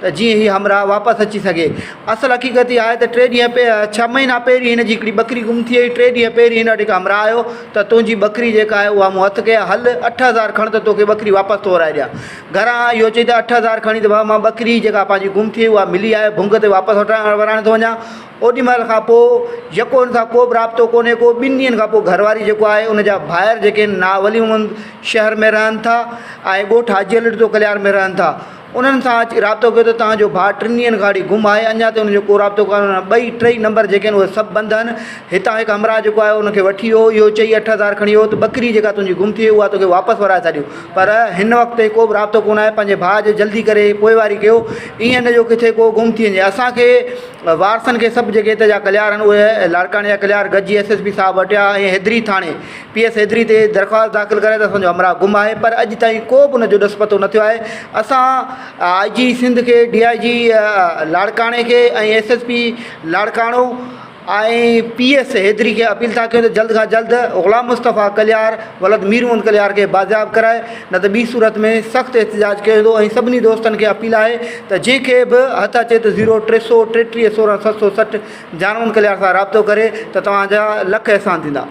ته جيئن هي همراهه واپس اچي سگهي. اصل حقيقت اها آهي ته ٽي ڏينهن پي ڇهه مهينا پهرين هن جي هڪڙي ٻڪري گم ٿي هئي، ٽي ڏينهن پهرين هن وٽ هڪ همراهه آيو ته تنهنجي ٻڪري جيڪا آهي اها مون هٿ ڪئي آهي، هل اٺ هزار کڻ ته توکي ٻڪري واپس تورائي ڏيان. گهران آيو اهو چئي ته اٺ هزار کڻي ته بابا مان ٻڪري جيڪا پنهنجي گم ٿي هئي اها ملي آهي، ڀونگ تي واپس وٺرائڻ وراڻي ٿو وڃان. اوڏي مهل کان پوء يڪو هن سان ڪو به رابطو ڪونهي ڪو، ٻن ڏينهن کان پوء گهر واري جيڪو آهي ان جا ڀائر جيڪي هن نا ولي محمد شهر ۾ رهن ٿا ۽ ڳوٺ حاجي علي ڏتو ڪليار ۾ رهن ٿا انهن سان اچي رابطو ڪيو ته تهان جو ڀاء ٽن ڏينهن کان وٺي گم آهي اڃا تائين ان جو ڪو رابطو ڪانه ورانه ٻئي ٽئي نمبر جيڪي آهن اهي سڀ بند آهن هتان هڪ همراهه جيڪو آهي ان کي وٺي ويو اهو چئي اٺ هزار کڻي ويو ته ٻڪري جيڪا تنهنجي گم ٿي اها توکي واپس ورائي ٿا ڏيون پر هن وقت تائين ڪو بھ رابطو ڪونه آهي پنهنجي ڀاء جو جلدي ڪري پوئواري ڪيو ايئن نه جو ڪٿي ڪو گم ٿي وڃي اسانکي وارثن کي سڀ جيڪي هتي جا ڪليار آهن اهي لاڙڪاڻي جا ڪليار گڏجي ايس ايس پي صاحب وٽ يا ائين حيدري ٿاڻي پي ايس حيدري تي درخواست داخل ڪرائي ته اسان جو همراهه گم آهي پر اڄ تائين ڪو به ان جو ڏس پتو نه ٿيو آهي اسان آئي جي سنڌ کي ڊي آئي جي لاڙڪاڻي کي ۽ S S P Larkana ۽ P S Haidri کي اپيل ٿا ڪيون ته جلد کان جلد غلام مصطفيٰ ڪليار ولد مير محمد ڪليار کي بازياب ڪرائي نه ته ٻي صورت ۾ سخت احتجاج ڪيو ويندو ۽ سڀني دوستن کي اپيل آهي ته جنهن کي به هٿ اچي ته زيرو ٽي سؤ ٽيٽيهه سورهن ست سؤ سٺ جان محمد ڪليار سان رابطو ڪري ته توهان جا لک احسان ٿيندا